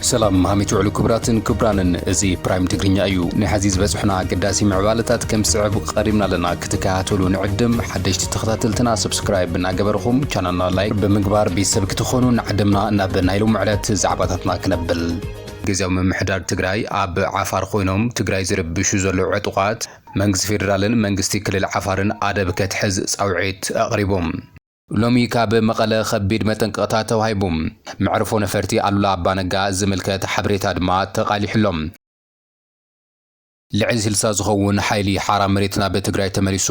ሰላም ሃሚት ውዕሉ ክብራትን ክብራንን እዚ ፕራይም ትግርኛ እዩ ናይ ሐዚ ዝበፅሑና ኣገዳሲ ምዕባለታት ከም ዝስዕብ ቀሪብና ኣለና ክትከታተሉ ንዕድም ሓደሽቲ ተኸታተልትና ሰብስክራይብ እናገበርኹም ቻናልና ላይክ ብምግባር ቤተሰብ ክትኾኑ ንዓድምና ናብ ናይ ሎሚ ዕለት ዛዕባታትና ክነብል ግዝያዊ ምምሕዳር ትግራይ ኣብ ዓፋር ኮይኖም ትግራይ ዝርብሹ ዘለዉ ዕጡቓት መንግስቲ ፌደራልን መንግስቲ ክልል ዓፋርን ኣደብ ከትሕዝ ፃውዒት ኣቕሪቡ። ሎሚ ካብ መቐለ ከቢድ መጠንቀቕታ ተዋሂቡ። መዕርፎ ነፈርቲ ኣሉላ ኣባነጋ ዝምልከት ሓበሬታ ድማ ተቓሊሑ'ሎ። ልዕሊ ስልሳ ዝኸውን ሓይሊ ሓራ መሬት ናብ ትግራይ ተመሊሱ።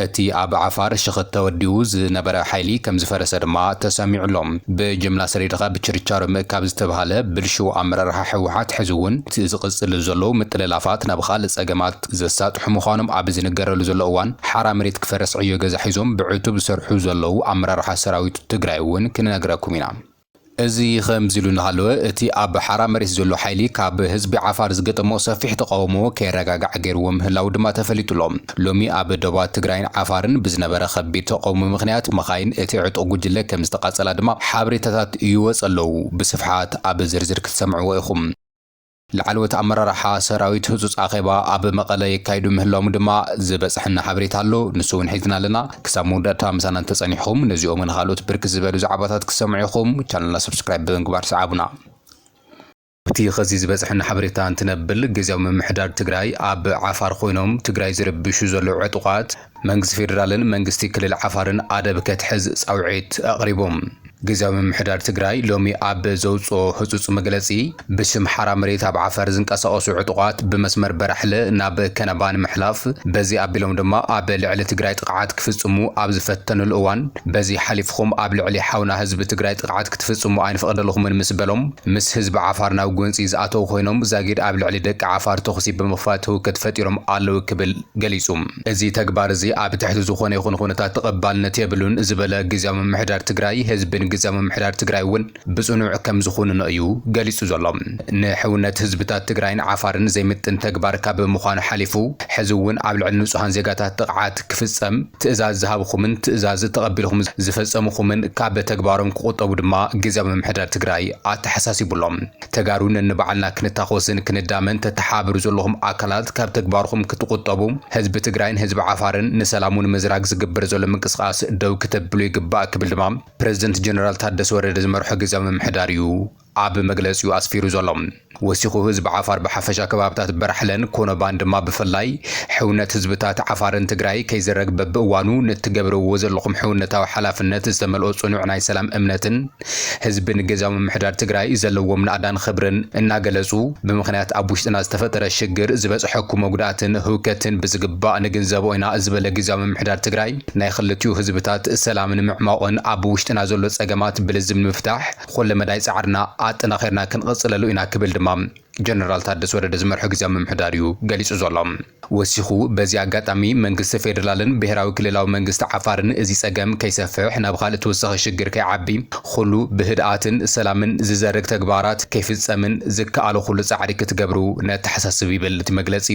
እቲ ኣብ ዓፋር ሽኽት ተወዲቡ ዝነበረ ሓይሊ ከምዝፈረሰ ድማ ተሰሚዑ ኣሎ። ብጅምላ ሰዲድኻ ብችርቻሮ ምእካብ ዝተብሃለ ብልሽው ኣመራርሓ ህወሓት ሕዚ እውን እቲ ዝቕፅል ዘሎ ምጥልላፋት ናብ ኻልእ ፀገማት ዘሳጥሑ ምዃኖም ኣብ ዝንገረሉ ዘሎ እዋን ሓራ መሬት ክፈርስ ዕዮ ገዛ ሒዞም ብዕቱብ ዝሰርሑ ዘለዉ ኣመራርሓ ሰራዊት ትግራይ እውን ክንነግረኩም ኢና። እዚ ኸምዚሉ እናሃለወ፣ እቲ ኣብ ሓራ መሬት ዘሎ ሓይሊ ካብ ህዝቢ ዓፋር ዝገጠሞ ሰፊሕ ተቓውሞ ከይረጋጋዕ ገይርዎ ምህላዉ ድማ ተፈሊጡ'ሎ። ሎሚ ኣብ ዶባት ትግራይን ዓፋርን ብዝነበረ ኸቢድ ተቓውሞ ምኽንያት መኻይን እቲ ዕጡቕ ጉጅለ ከምዝተቓፀላ ድማ ሓበሬታታት ይወፀ ኣለዉ፣ ብስፍሓት ኣብ ዝርዝር ክትሰምዕዎ ኢኹም። ላዕለዎት ኣመራርሓ ሰራዊት ህጹጽ ኣኼባ ኣብ መቐለ የካይዱ ምህላዎም ድማ ዝበጽሐና ሓበሬታ ኣሎ። ንሱ እውን ሒዝና ኣለና። ክሳብ መወዳእታ ምሳና እንተጸኒሕኩም ነዚኦምን ኻልኦት ብርክት ዝበሉ ዛዕባታት ክትሰምዑ ኢኹም። ቻነልና ሰብስክራይብ ብምግባር ስዓቡና። ኣብቲ ኸዚ ዝበጽሐና ሓበሬታ እንትነብል፣ ግዝያዊ ምምሕዳር ትግራይ ኣብ ዓፋር ኾይኖም ትግራይ ዝርብሹ ዘለዉ ዕጡቓት፣ መንግስቲ ፌደራልን መንግስቲ ክልል ዓፋርን ኣደብ ከትሕዝ ጻውዒት ኣቕሪቡ። ግዝያዊ ምምሕዳር ትግራይ ሎሚ ኣብ ዘውጽኦ ህጹጽ መግለጺ፣ ብሽም ሓራ መሬት ኣብ ዓፈር ዝንቀሳቐሱ ዕጡቓት ብመስመር በራሕለ ናብ ከነባ ንምሕላፍ፣ በዚ ኣቢሎም ድማ ኣብ ልዕሊ ትግራይ ጥቕዓት ክፍጽሙ ኣብ ዝፈተኑሉ እዋን በዚ ሓሊፍኹም ኣብ ልዕሊ ሓውና ህዝቢ ትግራይ ጥቕዓት ክትፍጽሙ ኣይንፈቕደልኹምን ምስ በሎም ምስ ህዝቢ ዓፋር ናብ ጎንጺ ዝኣተው ኮይኖም ዛጊድ ኣብ ልዕሊ ደቂ ዓፋር ተኹሲ ብምኽፋት ህውከት ፈጢሮም ኣለው ክብል ገሊጹ። እዚ ተግባር እዚ ኣብ ትሕቲ ዝኾነ ይኹን ኹነታት ተቐባልነት የብሉን ዝበለ ግዝያዊ ምምሕዳር ትግራይ፣ ህዝብን ግዝያዊ ምምሕዳር ትግራይ እውን ብፅኑዕ ከምዝኹንኖ እዩ ገሊፁ ዘሎ። ንሕውነት ህዝብታት ትግራይን ዓፋርን ዘይምጥን ተግባር ካብ ምዃኑ ሓሊፉ ሕዚ እውን ኣብ ልዕሊ ንፁሃን ዜጋታት ጥቕዓት ክፍፀም ትእዛዝ ዝሃብኹምን ትእዛዝ ተቐቢልኹም ዝፈፀምኹምን ካብ ተግባሮም ክቑጠቡ ድማ ግዝያዊ ምምሕዳር ትግራይ ኣተሓሳሲቡ ኣሎ። ተጋሩ ነንባዕልና ክንታኾስን ክንዳመን ተተሓባበሩ ዘለኹም ኣካላት ካብ ተግባርኹም ክትቑጠቡ ህዝቢ ትግራይን ህዝቢ ዓፋርን ንሰላሙ ንምዝራግ ዝግበር ዘሎ ምንቅስቓስ ደው ክተብሉ ይግባእ ክብል ድማ ፕረዚደንት ጀነራል ታደሰ ወረደ ዝመርሖ ግዝያዊ ምምሕዳር እዩ ኣብ መግለፂኡ ኣስፊሩ ዘሎ። ወሲኹ ህዝቢ ዓፋር ብሓፈሻ ከባብታት በራሕለን ኮነባን ድማ ብፍላይ ሕውነት ህዝብታት ዓፋርን ትግራይ ከይዝረግ በብእዋኑ ንትገብርዎ ዘለኹም ሕውነታዊ ሓላፍነት ዝተመልኦ ፅኑዕ ናይ ሰላም እምነትን ህዝቢ ንግዝያዊ ምምሕዳር ትግራይ ዘለዎም ናእዳን ኽብርን እናገለፁ፣ ብምኽንያት ኣብ ውሽጥና ዝተፈጠረ ሽግር ዝበፅሐኩ መጉዳእትን ህውከትን ብዝግባእ ንግንዘቦ ኢና ዝበለ ግዝያዊ ምምሕዳር ትግራይ፣ ናይ ኽልቲኡ ህዝብታት ሰላም ንምዕሟቕን ኣብ ውሽጥና ዘሎ ፀገማት ብልዝብ ንምፍታሕ ኹለ መዳይ ፃዕርና ኣጠናኺርና ክንቕፅለሉ ኢና ክብል ድማ ጀነራል ታደሰ ወረደ ዝመርሖ ግዝያዊ ምምሕዳር እዩ ገሊፁ ዘሎ። ወሲኹ በዚ ኣጋጣሚ መንግስቲ ፌደራልን ብሄራዊ ክልላዊ መንግስቲ ዓፋርን እዚ ፀገም ከይሰፍሕ ናብ ኻልእ ተወሳኺ ሽግር ከይዓቢ ኹሉ ብህድኣትን ሰላምን ዝዘርግ ተግባራት ከይፍፀምን ዝከኣሎ ኹሉ ፃዕሪ ክትገብሩ ነተሓሳስብ ይብል እቲ መግለፂ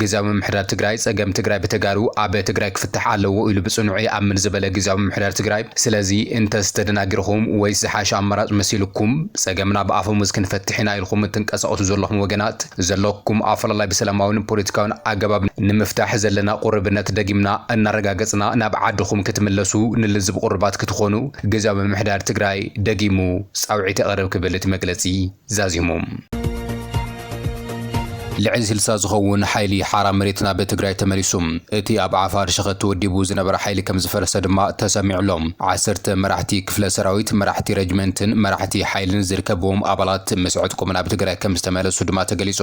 ግዝያዊ ምምሕዳር ትግራይ ፀገም ትግራይ ብተጋሩ ኣብ ትግራይ ክፍታሕ ኣለዎ ኢሉ ብፅኑዑ ይኣምን ዝበለ ግዝያዊ ምምሕዳር ትግራይ ስለዚ እንተስ ተደናጊርኹም ወይስ ዝሓሸ ኣማራጭ መሲሉኩም ፀገምና ብኣፈሙዝ ክንፈትሕ ኢና ኢልኹም እትንቀሳቀሱ ዘለኹም ወገናት ዘለኩም ኣፈላላይ ብሰላማዊን ፖለቲካዊን ኣገባብ ንምፍታሕ ዘለና ቁርብነት ደጊምና እናረጋገፅና ናብ ዓድኹም ክትምለሱ ንልዝብ ቁሩባት ክትኾኑ ግዝያዊ ምምሕዳር ትግራይ ደጊሙ ፃውዒት የቕርብ ክብል እቲ መግለፂ ዛዚሙ። ልዕሊ ስልሳ ዝኸውን ሓይሊ ሓራ መሬት ናብ ትግራይ ተመሊሱ። እቲ ኣብ ዓፋር ሸኸቲ ወዲቡ ዝነበረ ሓይሊ ከምዝፈረሰ ድማ ተሰሚዑ'ሎ። ዓሰርተ መራሕቲ ክፍለ ሰራዊት፣ መራሕቲ ረጅመንትን መራሕቲ ሓይልን ዝርከብዎም ኣባላት ምስ ዕጥቆም ናብ ትግራይ ከምዝተመለሱ ድማ ተገሊጹ።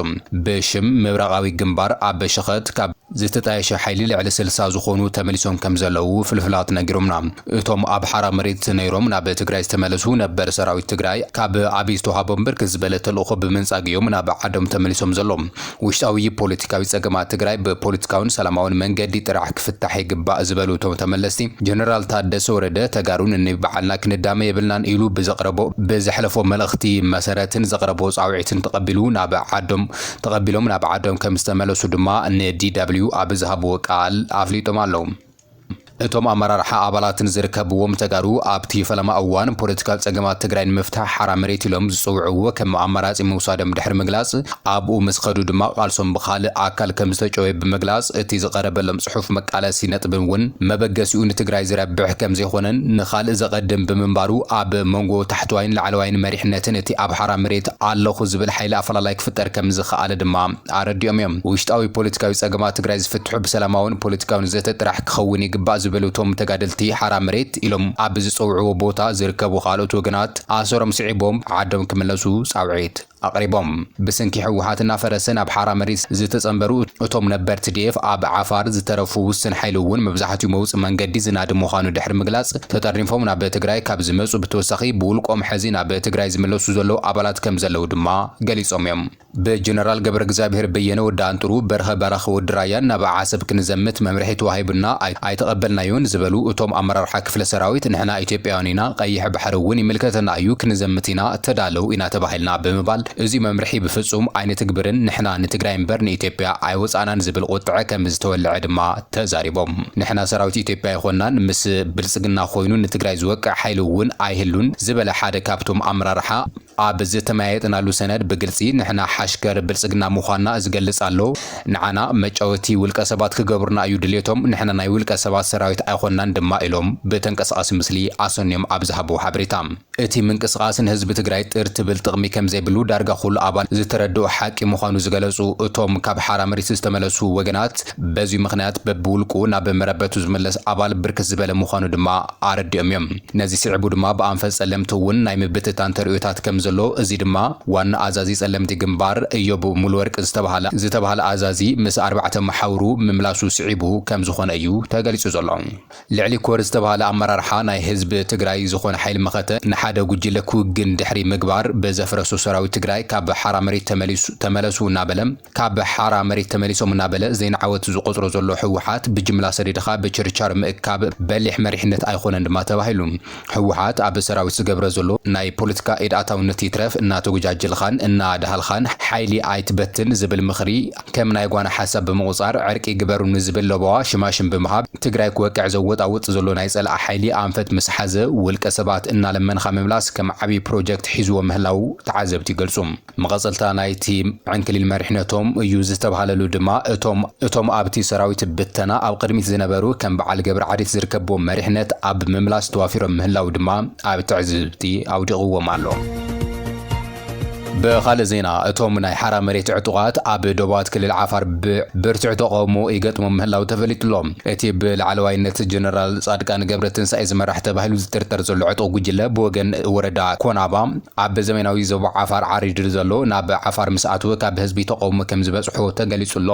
ብሽም ምብራቓዊ ግንባር ኣብ ሸኸት ካብ ዝተጣየሸ ሓይሊ ልዕሊ ስልሳ ዝኾኑ ተመሊሶም ከምዘለዉ ፍልፍላት ነጊሮምና። እቶም ኣብ ሓራ መሬት ነይሮም ናብ ትግራይ ዝተመለሱ ነበር ሰራዊት ትግራይ ካብ ኣብይ ዝተውሃቦም ብርክት ዝበለ ተልእኾ ብምንጻግ እዮም ናብ ዓዶም ተመሊሶም ዘሎም። ውሽጣዊ ፖለቲካዊ ፀገማት ትግራይ ብፖለቲካውን ሰላማውን መንገዲ ጥራሕ ክፍታሕ ይግባእ ዝበሉ እቶም ተመለስቲ፣ ጀነራል ታደሰ ወረደ ተጋሩ ነኒባዕልና ክንዳመ የብልናን ኢሉ ብዘቕረቦ ብዘሕለፎ መልእኽቲ መሰረትን ዘቕረቦ ፃውዒትን ተቐቢሉ ናብ ዓዶም ተቐቢሎም ናብ ዓዶም ከምዝተመለሱ ድማ ንዲደብሊው ኣብ ዝሃብዎ ቃል ኣፍሊጦም ኣለው። እቶም ኣመራርሓ ኣባላትን ዝርከብዎም ተጋሩ ኣብቲ ፈለማ እዋን ፖለቲካዊ ፀገማት ትግራይ ንምፍታሕ ሓራ መሬት ኢሎም ዝፅውዕዎ ከም ኣማራፂ ምውሳዶም ድሕሪ ምግላፅ ኣብኡ ምስ ኸዱ ድማ ቃልሶም ብኻልእ ኣካል ከምዝተጨወየ ብምግላፅ እቲ ዝቐረበሎም ፅሑፍ መቃለሲ ነጥብን እውን መበገሲኡ ንትግራይ ዝረብሕ ከምዘይኾነን ንኻልእ ዘቐድም ብምንባሩ ኣብ መንጎ ታሕተዋይን ላዕለዋይን መሪሕነትን እቲ ኣብ ሓራ መሬት ኣለኹ ዝብል ሓይሊ ኣፈላላይ ክፍጠር ከምዝኸኣለ ድማ ኣረዲኦም እዮም። ውሽጣዊ ፖለቲካዊ ፀገማት ትግራይ ዝፍትሑ ብሰላማውን ፖለቲካውን ዘተ ጥራሕ ክኸውን ይግባእ ዝበሉ እቶም ተጋደልቲ፣ ሓራ መሬት ኢሎም ኣብ ዝፀውዕዎ ቦታ ዝርከቡ ካልኦት ወገናት ኣሰሮም ስዒቦም ዓዶም ክምለሱ ፃውዒት ኣቕሪቦም። ብስንኪ ህወሓት እናፈረሰ ናብ ሓራ መሬት ዝተፀምበሩ እቶም ነበር ትዲኤፍ ኣብ ዓፋር ዝተረፉ ውስን ሓይሊ እውን መብዛሕቲኡ መውፅኢ መንገዲ ዝናድ ምዃኑ ድሕሪ ምግላፅ ተጠርኒፎም ናብ ትግራይ ካብ ዝመፁ ብተወሳኺ ብውልቆም ሐዚ ናብ ትግራይ ዝምለሱ ዘለዉ ኣባላት ከምዘለዉ ድማ ገሊፆም እዮም። ብጀነራል ገብረእግዝኣብሄር በየነ፣ ወዲ ኣንጥሩ፣ በርሀ በራኺ፣ ወዲ ራያን ናብ ዓሰብ ክንዘምት መምርሒ ተዋሂቡና ኣይተቐበልናዮን ዝበሉ እቶም ኣመራርሓ ክፍለ ሰራዊት ንሕና ኢትዮጵያውያን ኢና ቐይሕ ባሕሪ እውን ይምልከተና እዩ ክንዘምት ኢና ተዳለው ኢና ተባሂልና ብምባል እዙይ መምርሒ ብፍፁም ኣይንትግብርን ንሕና ንትግራይ እምበር ንኢትዮጵያ ኣይወፃእናን ዝብል ቑጥዐ ከምዝተወለዐ ድማ ተዛሪቦም። ንሕና ሰራዊት ኢትዮጵያ ኣይኾናን ምስ ብልፅግና ኾይኑ ንትግራይ ዝወቅዕ ሓይሊ እውን ኣይህሉን ዝበለ ሓደ ካብቶም ኣመራርሓ ኣብ ዝተመያየጥናሉ ሰነድ ብግልጺ ንሕና ሓሽከር ብልጽግና ምዃንና ዝገልጽ ኣሎ። ንዓና መጫወቲ ውልቀ ሰባት ክገብሩና እዩ ድሌቶም፣ ንሕና ናይ ውልቀ ሰባት ሰራዊት ኣይኾንናን ድማ ኢሎም ብተንቀሳቓሲ ምስሊ ኣሰንዮም ኣብ ዝሃብዎ ሓበሬታ። እቲ ምንቅስቓስ ንህዝቢ ትግራይ ጥር ትብል ጥቕሚ ከምዘይብሉ ዳርጋ ኩሉ ኣባል ዝተረድኦ ሓቂ ምዃኑ ዝገለጹ እቶም ካብ ሓራምሪት ዝተመለሱ ወገናት በዚ ምኽንያት በብውልቁ ናብ መረበቱ ዝምለስ ኣባል ብርክት ዝበለ ምዃኑ ድማ ኣረዲኦም እዮም። ነዚ ስዒቡ ድማ ብኣንፈት ጸለምቲ እውን ናይ ምብትታን ተርእዮታት ከም ዘሎ እዚ ድማ ዋና ኣዛዚ ጸለምቲ ግንባር እዮብ ሙሉወርቅ ዝተብሃለ ዝተብሃለ ኣዛዚ ምስ ኣርባዕተ መሓውሩ ምምላሱ ስዒቡ ከም ዝኾነ እዩ ተገሊጹ ዘሎ። ልዕሊ ኮር ዝተብሃለ ኣመራርሓ ናይ ህዝቢ ትግራይ ዝኾነ ሓይሊ መኸተ ንሓደ ጉጅለ ክውግን ድሕሪ ምግባር ብዘፍረሶ ሰራዊት ትግራይ ካብ ሓራ መሬት ተመሊሱ ተመለሱ እናበለ ካብ ሓራ መሬት ተመሊሶም እናበለ ዘይንዓወት ዝቖፅሮ ዘሎ ህወሓት ብጅምላ ሰዲድኻ ብችርቻር ምእካብ በሊሕ መሪሕነት ኣይኾነን ድማ ተባሂሉ። ህወሓት ኣብ ሰራዊት ዝገብረ ዘሎ ናይ ፖለቲካ ኢድ ኣታውነት ይትረፍ እናተጎጃጀልኻን እናዳሃልኻን ሓይሊ ኣይትበትን ዝብል ምኽሪ ከም ናይ ጓና ሓሳብ ብምቑፃር ዕርቂ ግበሩ ንዝብል ለበዋ ሽማሽም ብምሃብ ትግራይ ክወቅዕ ዘወጣውጥ ዘሎ ናይ ፀላኢ ሓይሊ ኣንፈት ምስ ሓዘ ውልቀ ሰባት እናለመንኻ ምምላስ ከም ዓብይ ፕሮጀክት ሒዝዎ ምህላው ተዓዘብቲ ይገልፁ። መቐጸልታ ናይቲ ዕንክሊል መሪሕነቶም እዩ ዝተብሃለሉ ድማ እቶም እቶም ኣብቲ ሰራዊት ብተና ኣብ ቕድሚት ዝነበሩ ከም በዓል ገብረዓዴት ዝርከብዎም መሪሕነት ኣብ ምምላስ ተዋፊሮም ምህላው ድማ ኣብ ትዕዝብቲ ኣውዲቕዎም ኣሎ። ብኻልእ ዜና እቶም ናይ ሓራ መሬት ዕጡቓት ኣብ ዶባት ክልል ዓፋር ብብርቱዕ ተቐውሞ ይገጥሞም ምህላው ተፈሊጡሎ። እቲ ብላዕለዋይነት ጀነራል ጻድቃን ገብረትንሳኤ ዝመራሕ ተባሂሉ ዝጥርጠር ዘሎ ዕጡቕ ጉጅለ ብወገን ወረዳ ኮናባ ኣብ ዘመናዊ ዞባ ዓፋር ዓሪድ ንዘሎ ናብ ዓፋር ምስ ኣትወ ካብ ህዝቢ ተቐውሞ ከም ዝበጽሖ ተገሊጹ ኣሎ።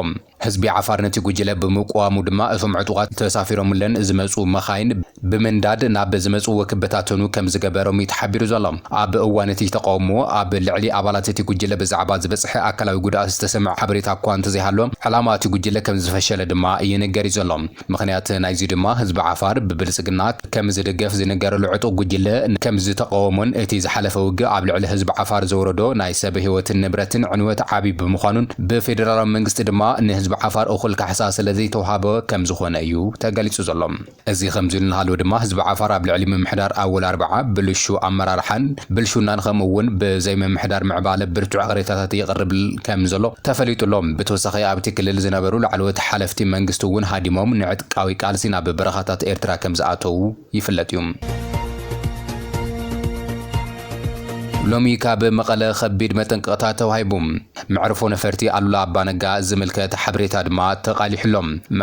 ህዝቢ ዓፋር ነቲ ጉጅለ ብምቅዋሙ ድማ እቶም ዕጡቓት ተሳፊሮምለን ዝመጹ መኻይን ብምንዳድ ናብ ዝመጽዎ ክበታተኑ ከም ዝገበሮም'ዩ ተሓቢሩ ዘሎ። ኣብ እዋን እቲ ተቐውሞ ኣብ ልዕሊ ኣባላት እቲ ጉጅለ ብዛዕባ ዝበጽሐ ኣካላዊ ጉድኣት ዝተሰምዐ ሓበሬታ'ኳ እንተዘይሃሎ ዕላማ እቲ ጉጅለ ከም ዝፈሸለ ድማ ይንገር'ዩ ዘሎ። ምኽንያት ናይዚ ድማ ህዝቢ ዓፋር ብብልጽግና ከምዝድገፍ ዝንገረሉ ዕጡቕ ጉጅለ ከምዝተቐወሞን እቲ ዝሓለፈ ውግእ ኣብ ልዕሊ ህዝቢ ዓፋር ዘውረዶ ናይ ሰብ ህይወትን ንብረትን ዕንወት ዓቢ ብምዃኑን ብፌደራላዊ መንግስቲ ድማ ንህዝቢ ዓፋር እኹል ካሕሳ ስለዘይተውሃቦ ከምዝኾነ እዩ ተገሊጹ ዘሎ። እዚ ከምዚ ኢሉ እናሃለወ ድማ ህዝቢ ዓፋር ኣብ ልዕሊ ምምሕዳር ኣወል ኣርባዓ ብልሹው ኣመራርሓን ብልሽውናን ከምኡ'ውን ብዘይምምሕዳር ምዕባለ ብርቱዕ ቅሬታታት የቕርብ ከምዘሎ ተፈሊጡ ኣሎ። ብተወሳኺ ኣብ'ቲ ክልል ዝነበሩ ላዕለዎት ሓለፍቲ መንግስቲ እውን ሃዲሞም ንዕጥቃዊ ቃልሲ ናብ በረኻታት ኤርትራ ከም ዝኣተዉ ይፍለጥ እዩ። ሎሚ ካብ መቐለ ከቢድ መጠንቀቕታ ተዋሂቡ። መዕርፎ ነፈርቲ ኣሉላ ኣባ ነጋ ዝምልከት ሓበሬታ ድማ ተቓሊሑ ኣሎ።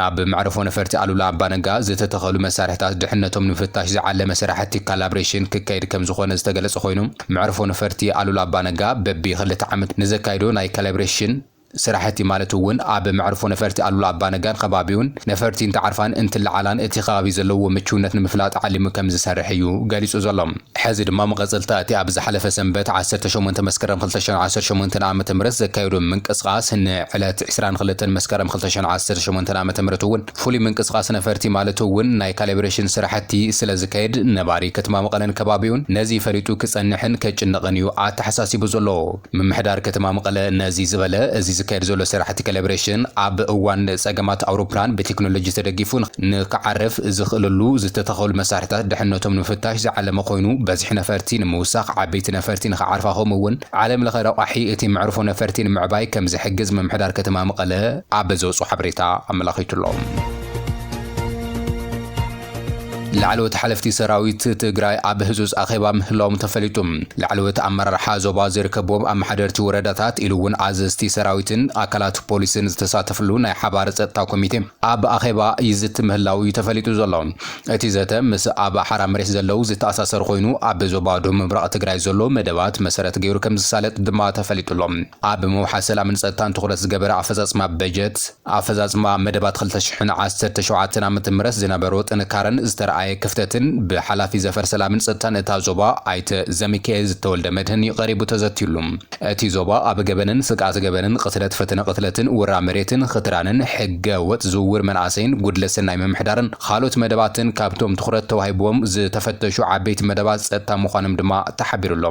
ኣብ መዕርፎ ነፈርቲ ኣሉላ ኣባ ነጋ ዝተተኸሉ መሳርሒታት ድሕነቶም ንምፍታሽ ዝዓለመ ስራሕቲ ካላብሬሽን ክካየድ ከም ዝኾነ ዝተገለጸ ኮይኑ፣ መዕርፎ ነፈርቲ ኣሉላ ኣባነጋ በቢ ክልተ ዓመት ንዘካይዶ ናይ ካላብሬሽን ስራሕቲ ማለት እውን ኣብ መዕርፎ ነፈርቲ ኣሉላ ኣባነጋን ኸባቢኡን ነፈርቲ እንትዓርፋን እንትለዓላን እቲ ኸባቢ ዘለዎ ምችውነት ንምፍላጥ ዓሊሙ ከምዝሰርሕ እዩ ገሊፁ ዘሎ። ሐዚ ድማ መቐፀልታ እቲ ኣብ ዝሓለፈ ሰንበት ዓሰርተ ሸሞንተ መስከረም ክልተ ሽሕን ዓሰርተ ሸሞንተን ዓመተ ምህረት ዘካየዶ ምንቅስቓስ ንዕለት ዕስራን ክልተን መስከረም ክልተ ሽሕን ዓሰርተ ሸሞንተን ዓመተ ምህረት እውን ፍሉይ ምንቅስቓስ ነፈርቲ ማለት እውን ናይ ካሌብሬሽን ስራሕቲ ስለዝካየድ ነባሪ ከተማ መቐለን ከባቢኡን ነዚ ፈሊጡ ክፀንሕን ከጭነቕን እዩ ኣተሓሳሲቡ ዘሎ። ምምሕዳር ከተማ መቐለ ነዚ ዝበለ እዚ ዝካየድ ዘሎ ስራሕቲ ካሌብሬሽን ኣብ እዋን ፀገማት ኣውሮፕላን ብቴክኖሎጂ ተደጊፉ ንክዓርፍ ዝኽእለሉ ዝተተኸሉ መሳርሕታት ድሕነቶም ንምፍታሽ ዝዓለመ ኮይኑ በዝሒ ነፈርቲ ንምውሳኽ ዓበይቲ ነፈርቲ ንክዓርፋ ከምኡ እውን ዓለም ለኸ ረቋሒ እቲ መዕርፎ ነፈርቲ ንምዕባይ ከምዝሕግዝ ምምሕዳር ከተማ መቐለ ኣብ ዘውፅኦ ሓበሬታ ኣመላኺቱ'ሎ። ላዕለዎት ሓለፍቲ ሰራዊት ትግራይ ኣብ ህፁፅ ኣኼባ ምህላዎም ተፈሊጡ። ላዕለዎት ኣመራርሓ ዞባ ዝርከብዎም ኣመሓደርቲ ወረዳታት ኢሉ እውን ኣዘዝቲ ሰራዊትን ኣካላት ፖሊስን ዝተሳተፍሉ ናይ ሓባር ፀጥታ ኮሚቴ ኣብ ኣኼባ ይዝቲ ምህላው እዩ ተፈሊጡ ዘሎ። እቲ ዘተ ምስ ኣብ ሓራ መሬት ዘለዉ ዝተኣሳሰር ኮይኑ፣ ኣብ ዞባ ደቡብ ምብራቕ ትግራይ ዘሎ መደባት መሰረት ገይሩ ከምዝሳለጥ ድማ ተፈሊጡ ኣሎ። ኣብ ምውሓስ ሰላምን ፀጥታን ትኹረት ዝገበረ ኣፈፃፅማ በጀት፣ ኣፈፃፅማ መደባት ክልተ ሽሕን ዓሰርተ ሸውዓተን ዓመተ ምህረት ዝነበሮ ጥንካረን ዝተርኣየ ክፍተትን ብሓላፊ ዘፈር ሰላምን ፀጥታን እታ ዞባ ኣይተ ዘሚካኤል ተወልደመድህን ቀሪቡ ተዘትዩሉ። እቲ ዞባ ኣብ ገበንን ስግኣት ገበንን፣ ቕትለት፣ ፈተነ ቕትለትን፣ ውራ መሬትን፣ ኽትራንን፣ ሕገ ወጥ ዝውውር መናእሰይን፣ ጉድለት ሰናይ ምምሕዳርን ኻልኦት መደባትን ካብቶም ትኹረት ተዋሂብዎም ዝተፈተሹ ዓበይቲ መደባት ፀጥታ ምዃኖም ድማ ተሓቢሩ ኣሎ።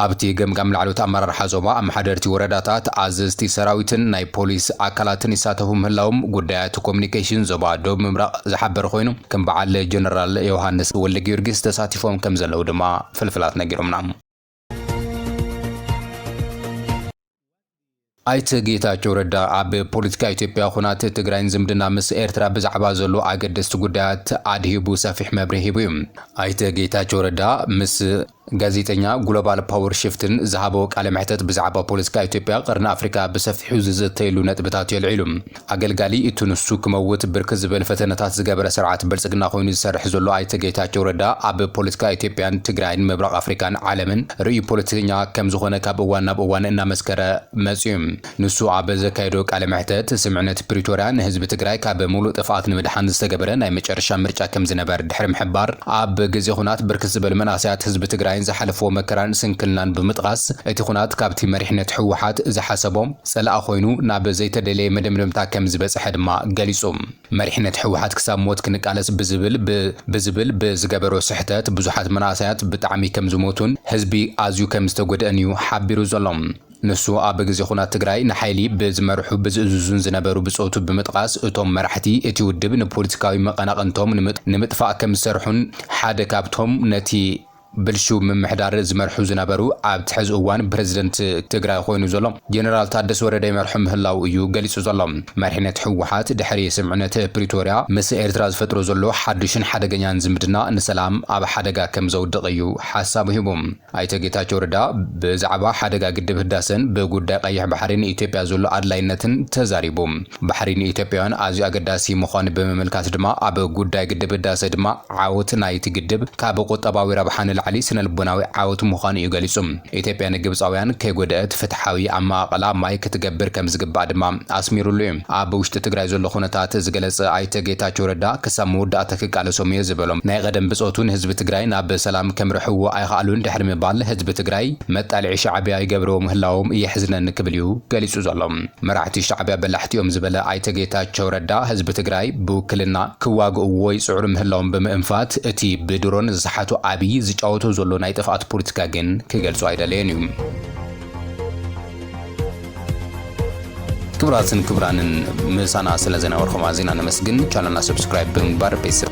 ኣብቲ ገምጋም ላዕለዎት ኣመራርሓ ዞባ፣ ኣመሓደርቲ ወረዳታት፣ ኣዘዝቲ ሰራዊትን ናይ ፖሊስ ኣካላትን ይሳተፉ ምህላዎም ጉዳያት ኮሙኒኬሽን ዞባ ደቡብ ምብራቕ ዝሓበረ ኾይኑ ከም በዓል ጀነራል ዮውሃንስ ወልደጊዮርጊስ ተሳቲፎም ከምዘለዉ ድማ ፍልፍላት ነጊሮምና። ኣይተ ጌታቸው ረዳ ኣብ ፖለቲካ ኢትዮጵያ፣ ኹናት ትግራይን ዝምድና ምስ ኤርትራ ብዛዕባ ዘሎ ኣገደስቲ ጉዳያት ኣድሂቡ ሰፊሕ መብርሂ ሂቡ እዩ። ኣይተ ጌታቸው ረዳ ምስ ጋዜጠኛ ግሎባል ፓወር ሽፍትን ዝሃቦ ቃለ መሕተት ብዛዕባ ፖለቲካ ኢትዮጵያ፣ ቐርኒ ኣፍሪካ ብሰፊሑ ዝዝተየሉ ነጥብታት እዩ ኣልዒሉ። ኣገልጋሊ እቲ ንሱ ክመውት ብርክት ዝበል ፈተነታት ዝገበረ ስርዓት ብልፅግና ኮይኑ ዝሰርሕ ዘሎ ኣይተ ጌታቸው ረዳ ኣብ ፖለቲካ ኢትዮጵያን ትግራይን ምብራቕ ኣፍሪካን ዓለምን ርእዩ ፖለቲከኛ ከምዝኾነ ካብ እዋን ናብ እዋን እናመስከረ መፂኡ ንሱ ኣብ ዘካየዶ ቃለ መሕተት ስምዕነት ፕሪቶርያ ንህዝቢ ትግራይ ካብ ሙሉእ ጥፍኣት ንምድሓን ዝተገበረ ናይ መጨረሻ ምርጫ ከምዝነበር ድሕሪ ምሕባር ኣብ ግዜ ኹናት ብርክት ዝበል መንእሰያት ህዝቢ ትግራይን ዝሓለፍዎ መከራን ስንክልናን ብምጥቓስ እቲ ኹናት ካብቲ መሪሕነት ህወሓት ዝሓሰቦ ጸላኢ ኮይኑ ናብ ዘይተደለየ መደምደምታ ከም ዝበጸሐ ድማ ገሊጹ። መሪሕነት ህወሓት ክሳብ ሞት ክንቃለስ ብዝብል ብ ብዝብል ብ ዝገበሮ ስሕተት ብዙሓት መናእሰያት ብጣዕሚ ከም ዝሞቱን ህዝቢ ኣዝዩ ከም ዝተጎድእን እዩ ሓቢሩ ዘሎ። ንሱ ኣብ ግዜ ኹናት ትግራይ ንሓይሊ ብ ዝመርሑ ብ ዝእዝዙን ዝነበሩ ብጾቱ ብምጥቓስ እቶም መራሕቲ እቲ ውድብ ንፖሊቲካዊ መቐናቕንቶም ንምጥፋእ ከም ዝሰርሑን ሓደ ካብቶም ነቲ ብልሽው ምምሕዳር ዝመርሑ ዝነበሩ ኣብቲ ሕዚ እዋን ፕረዚደንት ትግራይ ኾይኑ ዘሎ ጀነራል ታደሰ ወረደ ይመርሑ ምህላው እዩ ገሊፁ ዘሎ። መሪሕነት ህወሓት ድሕሪ ስምምዕነት ፕሪቶርያ ምስ ኤርትራ ዝፈጥሮ ዘሎ ሓዱሽን ሓደገኛን ዝምድና ንሰላም ኣብ ሓደጋ ከምዘውድቕ እዩ ሓሳቡ ሂቡ። ኣይተ ጌታቸው ረዳ ብዛዕባ ሓደጋ ግድብ ህዳሰን ብጉዳይ ቐይሕ ባሕሪን ንኢትዮጵያ ዘሎ ኣድላይነትን ተዛሪቡ። ባሕሪ ንኢትዮጵያውያን ኣዝዩ ኣገዳሲ ምዃኑ ብምምልካት ድማ ኣብ ጉዳይ ግድብ ህዳሰ ድማ ዓወት ናይቲ ግድብ ካብ ቁጠባዊ ረብሓ ንላዕሊ ስነልቦናዊ ዓወት ምዃኑ እዩ ገሊፁ። ኢትዮጵያ ንግብፃውያን ከይጎደእት ፍትሓዊ ኣመቓቕላ ማይ ክትገብር ከምዝግባእ ድማ ኣስሚሩሉ እዩ። ኣብ ውሽጢ ትግራይ ዘሎ ኩነታት ዝገለፀ ኣይተ ጌታቸው ረዳ ክሳብ መወዳእታ ክቃለሶም እየ ዝበሎም ናይ ቐደም ብፆቱ ንህዝቢ ትግራይ ናብ ሰላም ከምርሕዎ ኣይኸኣሉን ድሕሪ ምባል ህዝቢ ትግራይ መጣልዒ ሻዕቢያ ይገብርዎ ምህላዎም የሕዝነኒ ክብል እዩ ገሊፁ ዘሎ። መራሕቲ ሻዕቢያ በላሕቲ እዮም ዝበለ ኣይተ ጌታቸው ረዳ፣ ህዝቢ ትግራይ ብውክልና ክዋግእዎ ይፅዕሩ ምህላዎም ብምእንፋት፣ እቲ ብድሮን ዝሰሓቶ ኣብዪ ዝጫወቶ ዘሎ ናይ ጥፍኣት ፖለቲካ ግን ክገልፆ ኣይደለየን እዩ። ክቡራትን ክቡራንን ምሳና ስለ ዝነበርኹም ኣዚና ነመስግን። ቻነልና ሰብስክራይብ ብምግባር ቤተሰብ